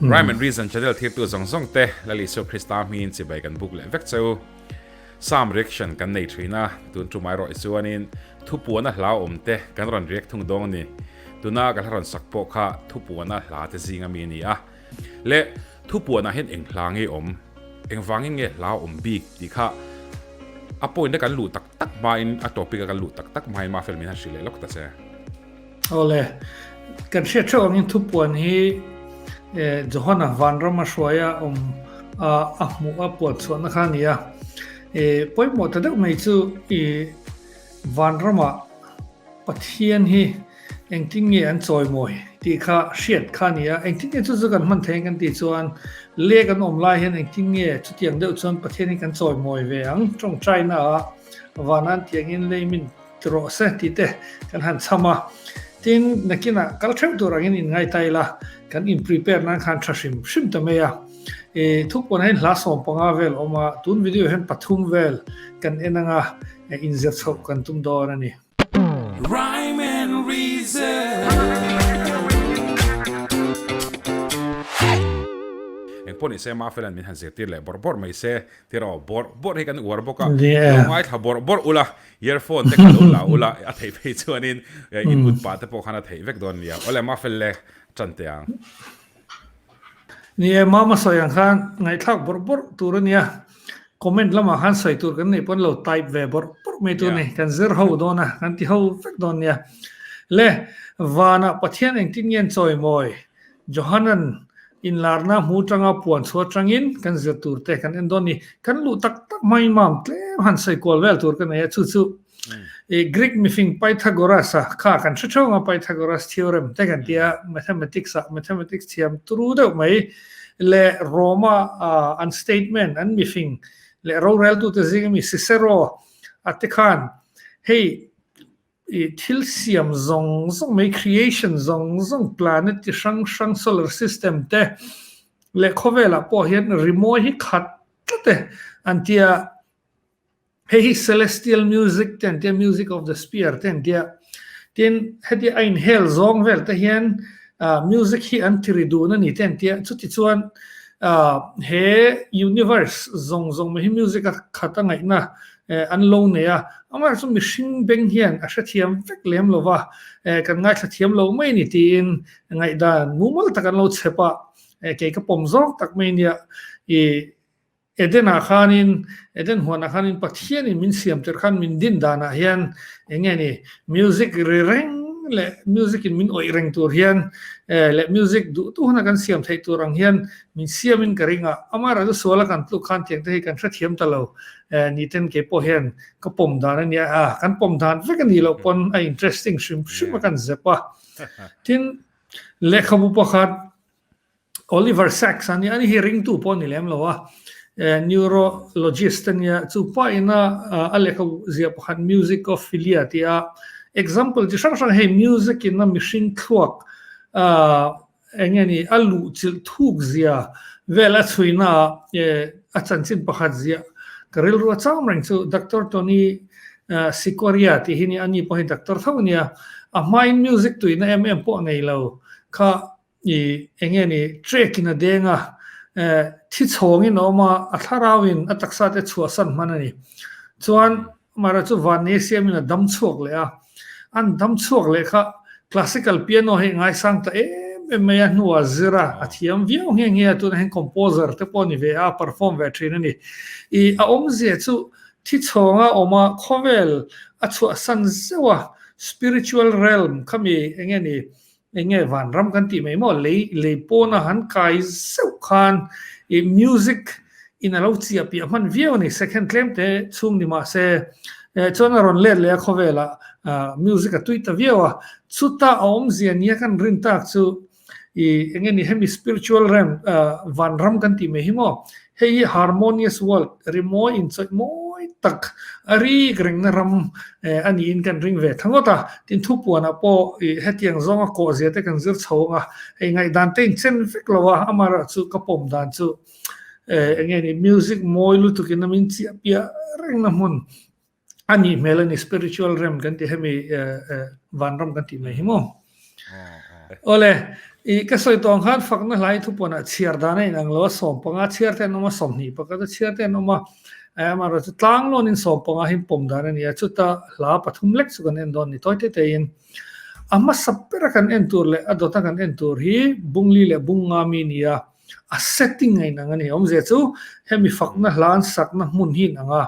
Rhyme and Reason channel thirtu zawng zawng te la Lisuah Krista hmin chibai kan buk leh vek che u. Psalm reaction kan nei thin a, tun tumai rawih chuanin thupuana hlauhawm te kan rawn riak thung dawng ni. Tuna ka hla rawn sak pawh kha thupuana hla te zing ami ni a. Le thupuana hian eng hla nge awm? Eng vangin nge hla awm bik tih kha a point a kan luh tak tak hmain a topic a kan luh tak tak hmain Mafel min han hrilh leh lawk ta che. Awle, kan hriat theuh angin thupuan hi Johana vanram a hruaia awm a a hmuh a puan chhuahna kha a ni a. I pawimawh ta deuh mai chu i vanrama Pathian hi engtin nge an chawimawi tih kha hriat kha a ni a. Engtin nge chu chu kan hman thei ang kan tih chuan leh kan awm lai hian engtin nge chutiang deuh chuan Pathian hi kan chawimawi ve ang? Tawngtaina ah vana'n tiangin leimin. Rawh se tih te kan han chham a, tin nakinah kal theuh tur angin in ngaithla ila, kan in prepare nan khan tha hrim hrim ta mai a, eh thu pawnah hian hla sawm panga vel a awm a, tun video hian pathum vel kan en anga in zir chhoh kan tum dawn a ni. Rhyme and reason. Engpawh ni se Mah Felan min han zir tir leh bawrh bawrh mai se tiraw, bawrh bawrh hi kan uar bawk a, lo ngaithla bawrh bawrh ula Earphone te ka lo la ul a, a theih phei chuanin input pah te pawh khan a theih vek dawn nia. Awle mah fel le tan teh ang. Ni e, mah masawi ang khan ngaihthlak bawrh bawrh tur a nia. Comment lamah khan sawi tur kan nei pawn lo, type ve bawrh bawrh mai tur ni, kan zir ho dawn a, kan ti ho vek dawn nia. Le, vanah Pathian engtin ngen chawi mawi? Johanan in larna hmu tanga puan chhuah tangin kan zir tur te kan en dawn ni. Kan luh tak tak hmai mam tlem han sawi kual vel tur ka nei a, chu chu Greek mifing Pythagoras-a kha kan hre theuh ang a, Pythagoras theorem te kan tia mathematics-a, mathematics thiam turu deuh mai leh Rome-a an statesman an mifing leh roreltute zingah mi Cicero te khan hei I thil siam zawng zawng mai, creation zawng zawng, planet chi hrang hrang, solar system te leh khawvelah pawh hian rimawi hi khat tlat e an ti a. Hei hi celestial music te an ti a, music of the spear te an ti a. Tin, heti a inhel zawng vel te hian music hi an ti ri dun a ni te an ti a. Chutichuan he universe zawng zawng mai hi music a khat a ngaihna E, an lo nei a, amaherawh chu mihring beng hian a hrethiam vek lem lo va, e, kan ngaithla thiam lo mai ni tiin ngaihdan mumal tak an lo chhep a, e, kei ka pawm zawk tak mai nia, i Edena khanin, Eden huanah khanin Pathianin min siamter khan min din danah hian eng nge ni, music ri reng leh music in min awih reng tur hian, e, leh music duhtu hana kan siam theih tur ang hian min siamin ka ring a, amaherawh chu suala kan tluk khan tiangte hi kan hrethiam ta lo. ni ten kei pawh hian ka pawm dan a nia a kan pawm dan vek a nih loh pawn a interesting hrim hrim a kan zep a tin lehkhabu pakhat Oliver Sacks a nia a ni hi ringtu pawh a ni lem lo a neurologist a nia chu pa ina a lehkhabu zia pakhat musicophilia tia example chi hrang hrang hei music ina mihring thluak Eng nge ni? A luh chilh thuk zia vel a chhuinaah a chanchin pakhat zia ka rilrua cham reng chu Doctor Tony Sikoria tih hi nia, ani pawh hi Doctor tho ania, a hmain music tuihna em em pawh nei lo kha ih eng nge ni track in a deng a, thi chhawngin a awm a, a thlarauin a taksa te chhuahsan hman a ni. Chuan Mara chu van ni a siam in a dam chhuak leh a, an dam chhuak leh kha classical piano hi ngaisang ta em em mai a, hnu ah zir a, a thiam viau nge nge a, tunah hian composer te pawh a ni ve a, a perform ve thin a ni. I a awmzia chu thi chhawng a awm a, khawvel a chhuahsan zeuh a, spiritual realm khami eng nge ni Eng nge vanram kan tih mai maw? Lei lei pawna han kai zeuh khan ih music in a lo chi a piah hman viau a ni, second tlem te chhung ni mah se eh chuan a rawn let leh a khawvela ah music a tui ta viau a, chuta a awmzia nia kan rin tak chu ih eng nge ni hemi spiritual realm ah vanram kan tih mai hi maw? Hei hi harmonious world, rimawi inchawih mawi tak a rik rengna ram a niin kan ring ve tha ngawt a. Tin, thu puanah pawh hetiang zawnga kawhzia te kan zir chho ang a, hei ngaihdante inchen vek lo a, amaherawhah chu ka pawm dan chu enge ni music mawi lutuk in a min chiahpiah rengna hmun a nih hmel a ni spiritual realm kan tih hemi van ram kan tih mai hi maw ole i ka sawi tawng khan fakna hlai thu pawn a chhiar dan a in ang lo a sawm panga chhiar te an awm a sawmhnih pakhat a chhiar te an awm a ama rawh chu tlang lawnin sawm panga hi pawm dan a ni a chuta hla pathum lek chu kan en dawn ni tawi te te in a hmasa bera kan en tur leh a dawta kan en tur hi bungli leh bungnga mi nia a setting a inang a ni awm zia chu hemi fakna hlan sakna hmun hi inang a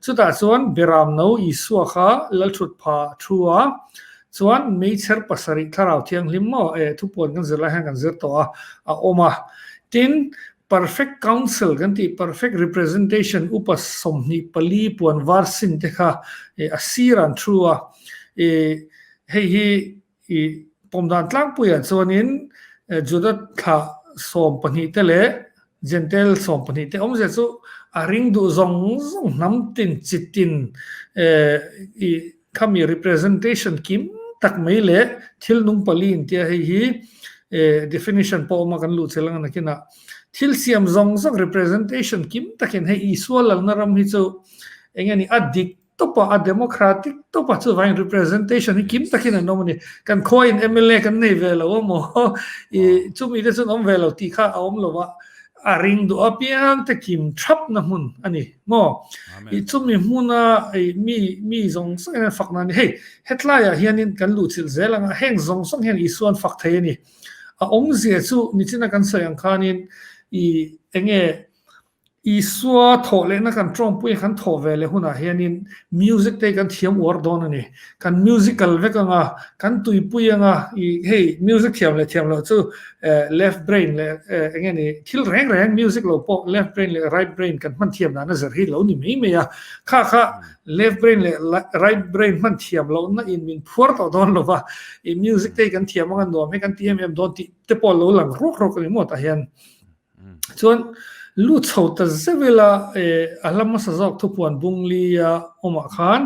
chutah chuan beram no isua kha lalthut pha thu a chuan meichher pasarih thlarau thianghlim maw eh thupuan kan zir lai hian kan zir tawh a a awm a tin perfect council kan tih perfect representation upa sawmhnih pali puan var sin te kha eh a sir an thu a eh hei hi I pawm dan tlangpuiah chuanin Juda thla sawm pahnih te leh Jentail sawm pahnih te awm zia chu a ring duh zawng zawng hnam tin chi tin i khami representation kim tak mai leh thil nung pali in tia hei hi definition pawh awm a kan luh chel ang a nakinah thil siam zawng zawng representation kim takin hei Isua lalna ram hi chu eng nge ni a dik Topa a democratic topa chuvain representation hi kim takin an awm a ni. Kan khawiin mla kan nei ve lo a maw i chumi te chuan awm ve lo tih kha a awm lo a, a ring duh apiang te kim thapna hmun a ni maw. I chumi hmuna i mi mi zawng zawng hian fakna a ni. Hei hetlaiah hianin kan luhchilh zel anga heng zawng zawng hian Isua'n fak thei a ni. A awmzia chu nichina kan sawi ang khanin i enge Isua thawh lehna kan ṭawngpui a, kan thawh ve leh hunah hianin music te kan thiam uar dawn a ni. Kan music kal vek anga, kan tuipui anga i hei music thiam leh thiam loh chu left brain leh eng nge ni thil reng reng music lo pawh left brain leh right brain kan hman thiam dan a zer hi lo ni mai mai a. Kha kha left brain leh right brain hman thiam lohna in min phuar tawh dawn lo va, i music te kan thiam anga nuam hi kan ti em em dawn tih te pawh lo lang ruak ruak a ni maw tah hian. Chuan lu chho ta zeuh ila a hla hmasa zawk thupuan bung li a awmah khan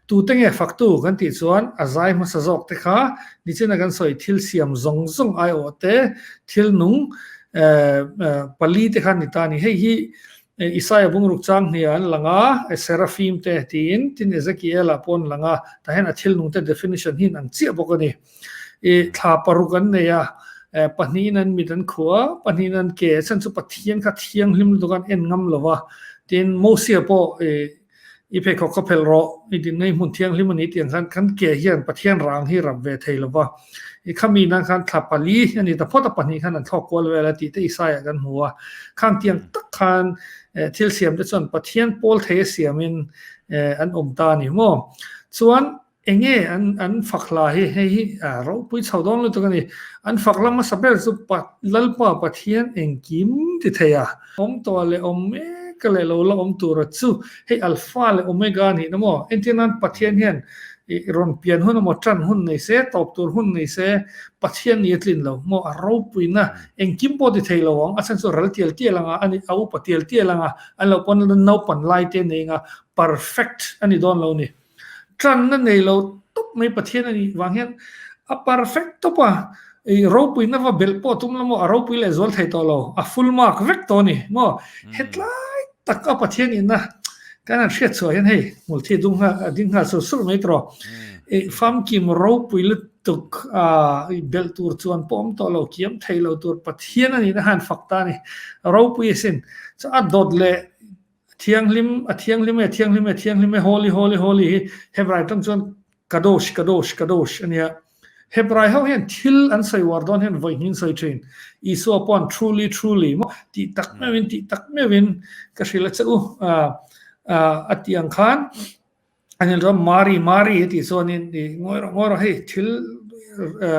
tute nge faktu kan tih chuan a zai hmasa zawkte kha nichina kan sawi thil siam zawng zawng aiawhte thil nung pali te khan ni ta a ni. Hei hi Isaiah bungruk chang hniha an lang a, Seraphim te tiin tin Ezekiel-a pawh an lang a, tah hian a thil nungte definition hi an ang chiah bawk a ni. I thla paruk an nei a, pahnihin an mit an khuh a, pahnihin an ke a, chuan chu Pathian kha thianghlim lutuk an en ngam lo va. Tin, Mosea pawh i i pheikhawk ka phelh rawh, i dinna i hmun thianghlim a ni tih ang khan kan ke hian Pathian rang hi rap ve thei lo va. I khami nan khan thla pali a ni ta phawt a, pahnih khan an thlawk kual vel a tih te Isaiah kan hmu a. Khang tiang tak khan thil siam te chuan Pathian pawl thei a siam in an awm ta a ni maw? Chuan Enge an fak hla hi, hei hi ropui chho dawn lutuk a ni. An fak lama sa ber chu Lalpa Pathian engkim ti thei a, awmtuah leh awm mek leh lo la awm tura chu hei Alfa leh Omega a nih na maw? Entir nan Pathian hian rawn pian hun emaw, tan hun nei se, tawp tur hun nei se, Pathian ni a tlin lo. Maw a ropuina engkim pawh ti thei lo ang, a then chu ral tial tial anga a ni, a upa tial tial anga an lo pawn a, naupan laite nei anga perfect a ni dawn lo a ni. Tanna nei lo tawp mai Pathian a nih vang hian a perfect tawp a, ih ropui na va belh pawh a tum la maw, a ropui leh zual thei tawh lo, a full mark vek tawh a ni maw. Hetlai tak a Pathian inna kan han hriatchhuah hian hei hmul thi dung nghal a ding nghal sur sur mai tawh rawh, ih famkim ropui lutuk a ih belh tur chuan pawh awm tawh lo, kiam thei lo tur Pathian a nihna han fak ta a ni, a ropui asin chuan a dawt leh A thianghlim, a thianghlim e, thianghlim e, thianghlim e, holy, holy, holy hi Hebrai atang chuan kadosh, kadosh, kadosh a nia. Hebrai ho hian thil an sawi uar dawn hian vawi ngin sawi thin. Isua paw'n truly, truly maw tih tak meuhin, tih tak meuhin ka hrilh a che u a a ti ang khan a nen rawh Mari Mari tih chuan in i ngawi rawh ngawi rawh hei thil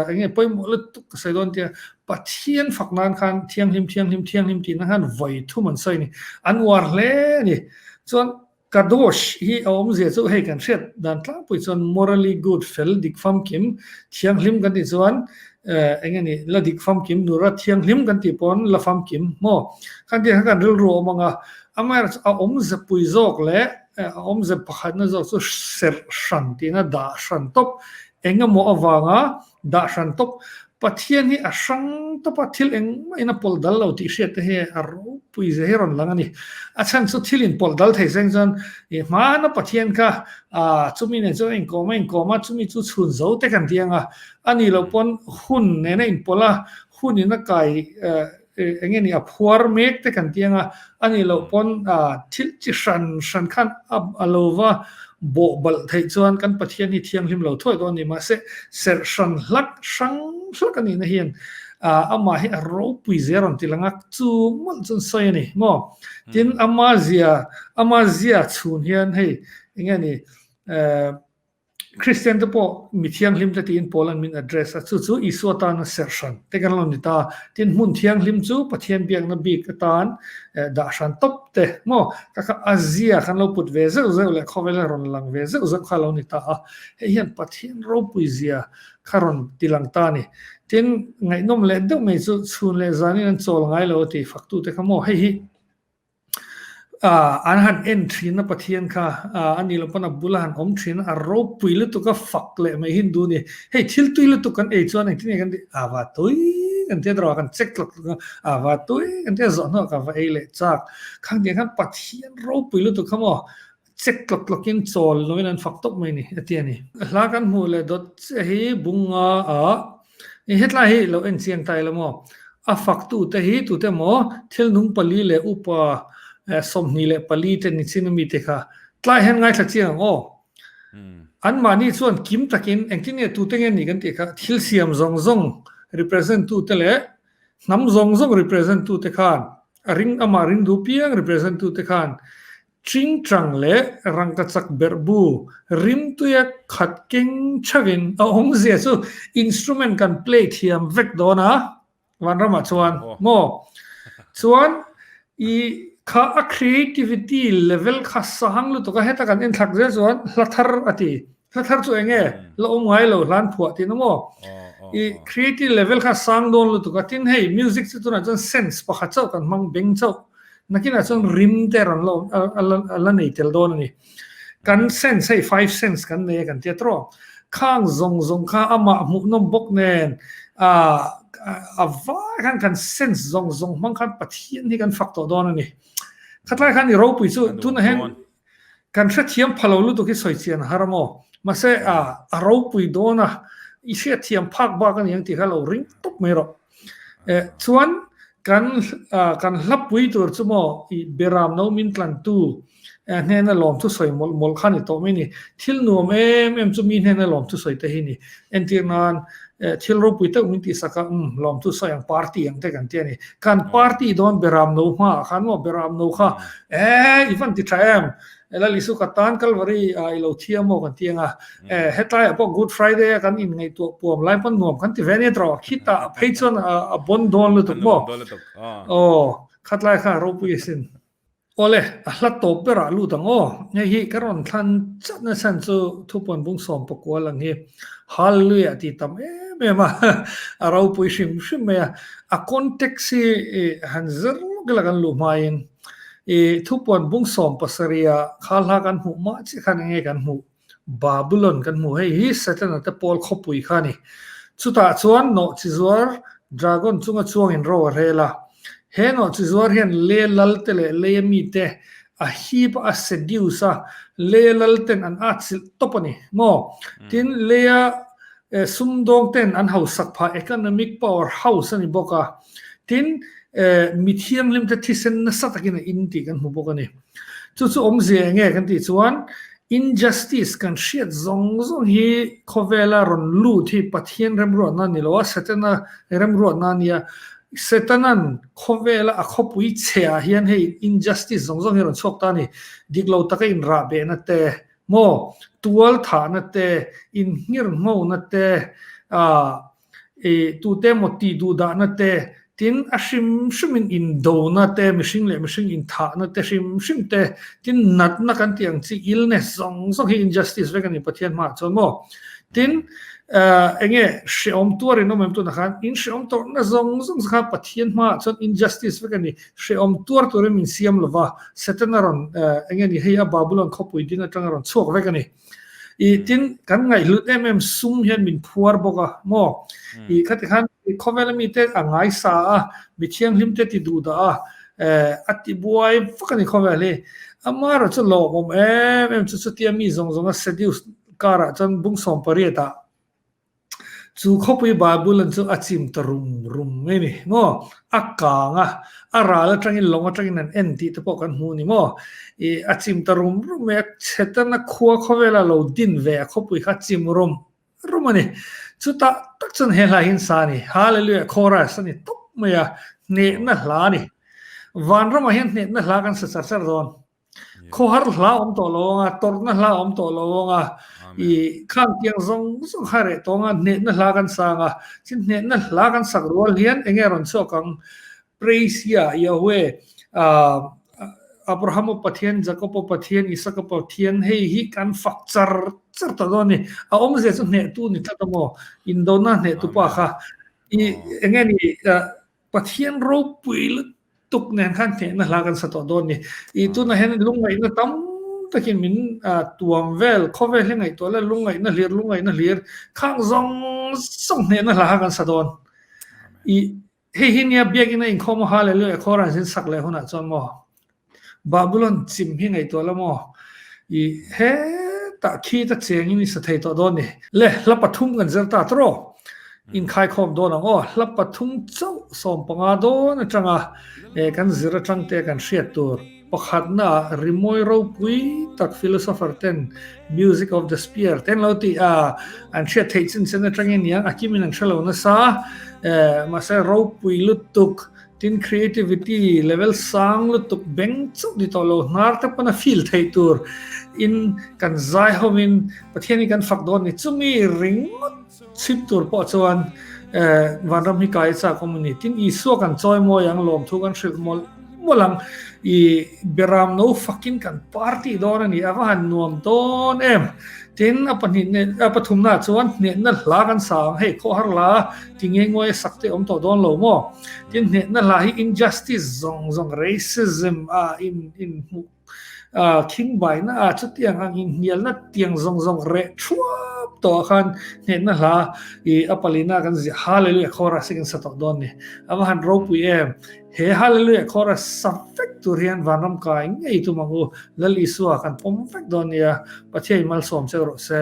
enge pawimawh lutuk ka sawi dawn tia Pathian fak nan khan thianghlim thianghlim thianghlim tihna khan vawi thum an sawi ni an uar hle a ni chuan Kadosh hi a awm zia chu hei kan hriat dan tlangpui chuan morally good fel dik famkim thianghlim kan tih chuan enge ni la dik famkim nura thianghlim kan tih pawh la famkim maw khan ti kha kan rilru awm ang a amaherawhchu a awm zepui zawk leh A awmzia pakhatna zawk chu serh hran tihna dah hran tawp engemaw avanga dah hran tawp Pathian hi a hrang tawp a, thil eng maiin a pawlh dal lo tih hriat te hi a ropui zia hi rawn lang a ni. A chhan chu thil inpawlh dal thei seng chuan i hmana Pathian kha a chumi nen chuan a inkawm a inkawm a chumi chu chhun zo te kan ti anga a nih loh pawn hun nena inpawlh a hun ina kai Eng nge ni a phuar mek te kan tih anga a nih loh pawn thil chi hran hran khan a lo va bawh balh theih chuan kan Pathian hi thianghlim lo thuai dawn a ni. Mahse, serh hran hlat, hrang hlak a nihna hian amah hi a ropui zia rawn ti langa chu mawlh chuan sawi a ni maw? Tin, amah zia, amah zia chhun hian hei eng nge ni, Kristian te pawh mi thianghlim te tiin Paul an min address a, chu chu Isua tana serhran te kan lo ni ta, tin hmun thianghlim chu Pathian biakna bik atan dah hran tawp te maw? Ka kha Asia kan lo put ve zeuh zeuh leh khawvela rawn lang ve zeuh zeuh kha lo ni ta a, hei hian Pathian ropui zia kha rawn ti lang ta a ni, tin ngaihnawm leh deuh mai chu chhun leh zanin an chawl ngai lo a ti faktu te kha maw? Hei hi. Ah, an han en thin a Pathian kha, ah, anih lo pawnah bula han awm thin, a ropui lutuk a, fak leh mai Hindu ni. Hei, thil tui lutuk kan ei chuan engtin nge kan tih? Ah, va tui kan tia tawrh a, kan check tlat tlat a, ah, va tui kan tia zawh hnuah ka va ei leh chak. Khang tiang khan Pathian ropui lutuk kha maw? Chek tlawk tlawkin chawl loin an fak tawp mai ni, a ti a ni. Hla kan hmuh leh dawt chiah hi bunga a, ih hetlai hi lo enchiang ta ila maw? A faktu te hi tute maw thilnung pali leh upa sawmhnih leh pali te ni chin a mi te kha tlai hian ngaithla chiang ang aw. An mahni chuan kim takin engtin nge tute nge ni kan tih kha thil siam zawng zawng represent tu te leh hnam zawng zawng represent tu te khan a ring amah ringdu piang represent tu te khan Tingtang leh rangkachak berhbu rimtuia khat keng chauhin a awmzia chu instrument kan play thiam vek dawn a, Vanramah chuan. Maw? Chuan i kha a creativity level kha sang lutuk a, heta kan enthlak zel chuan hla thar a ti. Hnathar chu enge la awm ngai lo hlan phuah tih na maw? I creative level kha sang dawn lutuk a, tin hei music chu tunah chuan sense pakhat chauh kan hmang beng chauh nakinah chuan rim te rawn la awm a la nei tel dawn a ni. Kan sense hei five sense kan nei a kan tia trawk. Khang zawng zawng kha amah hmuhnawm bawk nen a vai khan kan sense zawng zawng hmang khan Pathian hi kan fak tawh dawn a ni. Khatlai khan i ropui chu tunah hian Kan hrethiam pha lo lutuk hi sawi chian a har a maw? Mahse, a a ropui dawn a, i hriatthiam phak bak a niang tih kha lo ring tawp mai rawh. Eh, chuan kan kan hlapui tur chu maw i Beram no min tlantu eh hnena lawmthu sawi mawlh mawlh kha ni tawh mai ni. Thil nuam em em chu mi hnena lawmthu sawi te hi ni. Entir nan eh thil ropui teuh min tihsak a, um, lawmthu sawi ang party ang te kan ti a ni. Kan party dawn Beram no hma ah khan maw Beram no kha Eeh i van ti tha em, ela Lisuka tan Calvary ah ilo thiam maw kan ti anga, eh hetlaiah pawh Good Friday a kan in ngaihtuah puam lai pawn nuam kan ti ve ania trawh, khi tah a phei chuan a bawn dawn lutuk maw? Aw, khatlai kha ropui asin. Awle, a hla tawp berah lut ang aw, ngei hi ka rawn thlan chat nasa chu thupuan bung sawm pakual ang hi. Hallelujah tih tam em em a, a ropui hrim hrim mai a, a context hi han zir vek la kan luh hmain i thupuan bung sawm pasaria khalhla kan hmuh mah chiah khan enge kan hmuh? Babylon kan hmuh, hei hi Setana te Paul khawpui kha a ni. Chutah chuan nawhchi zuar dragon chunga chuangin ro a hrel a, he nawhchi zuar hian le lalte leh leia mite a hip a seduce a, Leia lal ten an at silh tawp a ni maw? Tin, Leia eh sumdawng ten an hausak phah economic power house a ni bawk a, tin eh mi thianghlim te thisen nasa takin a in tih kan hmu bawk a ni. Chu chu awmzia eng nge kan tih chuan, injustice kan hriat zawng zawng hi khawvela rawn lut hi Pathian remruatna ni lo a, Satan-a remruatna a nia, Satan-a'n Khawvela a khawpui chhe ah hian hei injustice zawng zawng hi a rawn chhuak ta a ni. Dik lo taka inrahbehna te maw, tual thahna te, inhngir nghona te, aah, tute emaw tih duh dahna te, tin a hrim hrimin indona te, mihring leh mihring inthahna te hrim hrim te, tin natna kan tih ang chi illness zawng zawng hi injustice vek a ni Pathian hmaah chuan maw. Tin. Eng nge hrehawm tuar in awm em tunah khan in hrehawm tawrhna zawng zawng kha Pathian hma ah chuan injustice vek a ni. Hrehawm tuar tur in min siam lo va, Satan a rawn eng nge ni hei a Babylon khawpui ding atang a rawn chhuak vek a ni. I tin kan ngaihlut em em sum hian min phuar bawk a maw? I khati khan khawvela mite a ngai sa a, mi thianghlim te ti duh dah a, a ti buai vak a ni khawvel hi. Amah erawh chu lawmawm em em chu chutia mi zawng zawng a seduce Karah chuan bung sawm pariatah chu khawpui Bible-a'n chu a chim ta rum rum mai ni maw? A kang a, a ral atangin lawng atangin an en tih te pawh kan hmu ni maw? I a chim ta rum rum mai a, chhe tan a khua khawvela lo din ve a khawpui kha chim rum rum a ni. Chutah tak chuan he hlai hi insa a ni, Hallelujah chorus a ni tawp mai a, hnehna hla a ni. Van ramah hian hnehna hla kan sa char char dawn. Khawhar hla awm tawh lo ang a, tawrhna hla awm tawh lo ang a, i khang kiang zawng zawng kha reh tawng a, hnehna hla kan sa ang a, chin hnehna hla kan sak rual hian enge rawn chhuak ang? Praise ia, Yahweh, Abrahama Pathian, Jakoba Pathian, Isaka Pathian hei hi kan fak char char ta dawn a ni, a awm zia chu hnehtu ni tlat a maw, indona hnehtu pa kha, i enge ni, Pathian ropui lutuk nen khan hnehna hla kan sa tawh dawn ni. I tunah hian lungngaihna tam takin min tuam vel, khawvel hi ngaihtuah le lungngaihna hlir, lungngaihna hlir, khang zawng zawng hnehna hla kha kan sa dawn. I hei hi nia biakina inkhawm a ha leh leh khaw a rawn zin sak leh hunah chuan maw Babylon chim hi ngaihtuah la maw? I hetah khita chengin i sa thei tawh dawn ni. Le, hla pathum kan zer ta tur aw. Inkhaikhawm dawn ang aw. Hla pathum chauh sawm panga dawn atanga kan zir atangte kan hriat tur pakhatnaah rimawi ropui tak philosopher ten Music of the Spear te an lo ti a, an hriat theih chin chen atangin niang a kimin an hrelo nasa. Mahse, ropui lutuk. Tin, creativity level sang lutuk beng chauh ni tawh lo hnar te pawn a feel theih tur in kan zai ho in Pathianin kan fak dawn ni chumi ringawt chhim tur pawh chuan Vanram hi kai a chak awm a ni. Tin, Isua kan chawimawi ang, lawmthu kan hrilh mawlh mawlh ang, i beram no fakin kan par tih dawn a ni, a va han nuam dawn em! Tin, a pahnih hneh, a pathumnaah chuan hnehna hla kan sa ang hei, khawhar la ti ngei ngawi sak te awm tawh dawn lo maw? Tin, hnehna hla hi injustice zawng zawng, racism, a in in hmuh khing baina a, chutiang ang inhnialna tiang zawng zawng reh thuam tawh khan hnehna hla i a palina kan ziah hale leh khawhar a si kan sa tawh dawn ni. A va han ropui em? He Hallelujah chorus sam vek tur hian vanram kai ngei tum ang u, Lal Isua kan pawm vek dawn nia, Pathian i malsawm cheu rawh se.